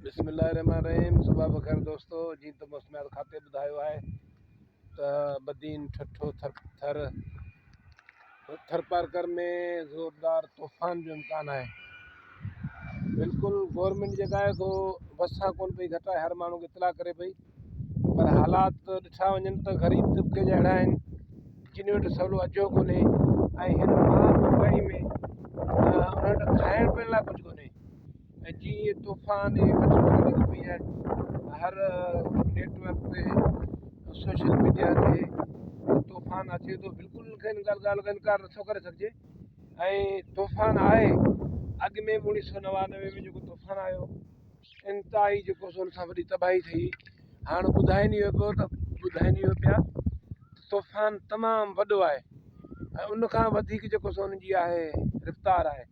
بسم الله الرحمن الرحيم صباح بخير دوستو جيئن ته موسميات کاتي ٻڌايو آهي ته بدين ٺٺو ٿر ٿر ٿرپارڪر ۾ زوردار طوفان جو امڪان آهي بلڪل گورنمنٽ جيڪا آهي سو وسا ڪون پئي گهٽائي هر ماڻهو کي اطلاع ڪري پئي پر حالات ڏٺا وڃن ته غريب طبقي جا اهڙا آهن جن وٽ سولو اجهو ڪونهي ۽ هن مهانگائي ۾ انهن وٽ کائڻ پيئڻ لاء ڪجهه ڪونهي ۽ جيئن ئي طوفان هي وٺ ۾ لڳو پئي آهي ته هر نيٽ ورڪ تي سوشل ميڊيا تي طوفان اچي ٿو بلڪل ان کي ان ڳالهه ڳالهه کي انڪار نٿو ڪري سگهجي ۽ طوفان آهي اڳ ۾ بي اڻيسي سو نوانوي ۾ جيڪو طوفان آيو انتهائي جيڪو سو ان سان وڏي تباهي ٿي هاڻ ٻڌائي نيو پيو ته ٻڌائي نيو پيا طوفان تمام وڏو آهي ۽ ان کان وڌيڪ جيڪو سو ان جي آهي رفتار آهي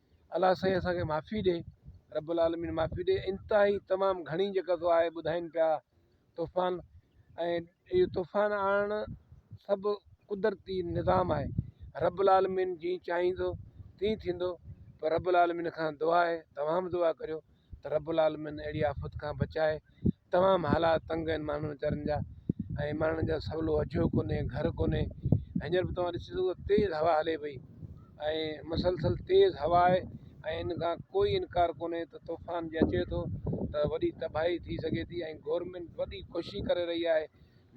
الله سائين اسان کي معافي ڏي رب العالمين معافي ڏي انتهائي تمام گهڻي جيڪا سو آهي ٻڌائين پيا طوفان ۽ اهو طوفان آڻڻ سڀ قدرتي نظام آهي رب العالمين جي چاهيندو تي ٿيندو پر رب العالمين کان دعا آهي تمام دعا ڪريو ته رب العالمين اهڙي آفت کان بچائي تمام حالات تنگ آهن ماڻهن ويچارن جا ۽ ماڻهن جا سولو اجهو ڪونهي گهر ڪونهي هينئر به توهان ڏسي سگهو ٿا تيز هوا هلي پئي ۽ مسلسل تيز هوا آهي ۽ ان کان ڪوئي انڪار ڪونهي ته طوفان جي اچي ٿو ته وڏي تباهي ٿي سگهي ٿي ۽ گورنمينٽ وڏي ڪوشش ڪري رهي آهي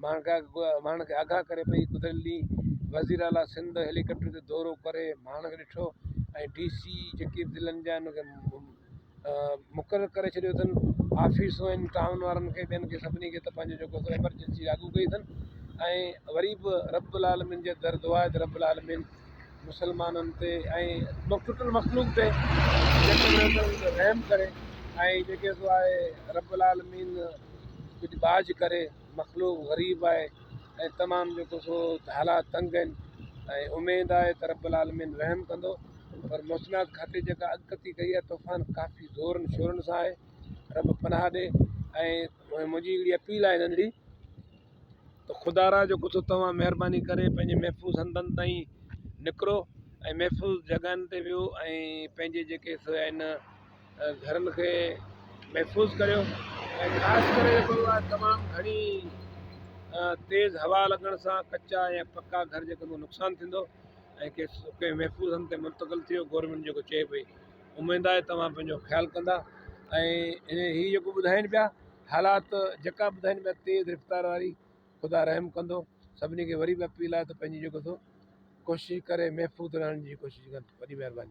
ماڻهن کي آگاهه ڪري پئي، گذريل ڏينهن وزير اعليٰ سنڌ هيلي ڪاپٽر تي دورو ڪري ماڻهن کي ڏٺو ۽ ڊي سي جيڪي به ضلعن جا آهن انهن کي مقرر ڪري ڇڏيو اٿن، آفيسون آهن ٽائون وارن کي ٻين کي سڀني کي ته پنهنجو جيڪو سو ايمرجنسي لاڳو ڪئي اٿن ۽ وري به رب العالمين جي در دعا آهي ته رب العالمين مسلمانن تي ۽ ٽٽل مخلوق تي رحم ڪري ۽ جيڪي سو آهي رب العالمين ڪجهه ٻاجهه ڪري مخلوق غريب آهي ۽ تمام جيڪو سو حالات تنگ آهن ۽ اميد آهي ته رب العالمين رحم ڪندو پر موسميات کاتي جيڪا اڳڪٿي ڪئي آهي طوفان ڪافي زورن شورن سان آهي رب پناهه ڏي ۽ منهنجي اهڙي اپيل آهي ننڍڙي ته خدا را جو ڪٿو توهان مهرباني ڪري پنهنجي محفوظ هنڌن تائين نڪرو ۽ محفوظ جڳهن تي ويهو ۽ پنهنجي جيڪي سو آهن گهرن کي محفوظ ڪريو ۽ خاص ڪري جيڪو آهي تمام گهڻي تيز هوا لڳڻ سان ڪچا يا پڪا گهر جيڪو نقصان ٿيندو ۽ ڪي محفوظ هنڌ تي منتقل ٿيو گورنمينٽ جيڪو چئي پئي اميد آهي توهان پنهنجو خيال ڪندا ۽ هي جيڪو ٻڌائين پيا حالات جيڪا ٻڌائين پيا تيز رفتار واري خدا رحم ڪندو سڀني کي وري به اپيل آهي ته پنهنجي جيڪو ٿو ڪوشش ڪري محفوظ رهڻ جي ڪوشش ڪن وڏي مهرباني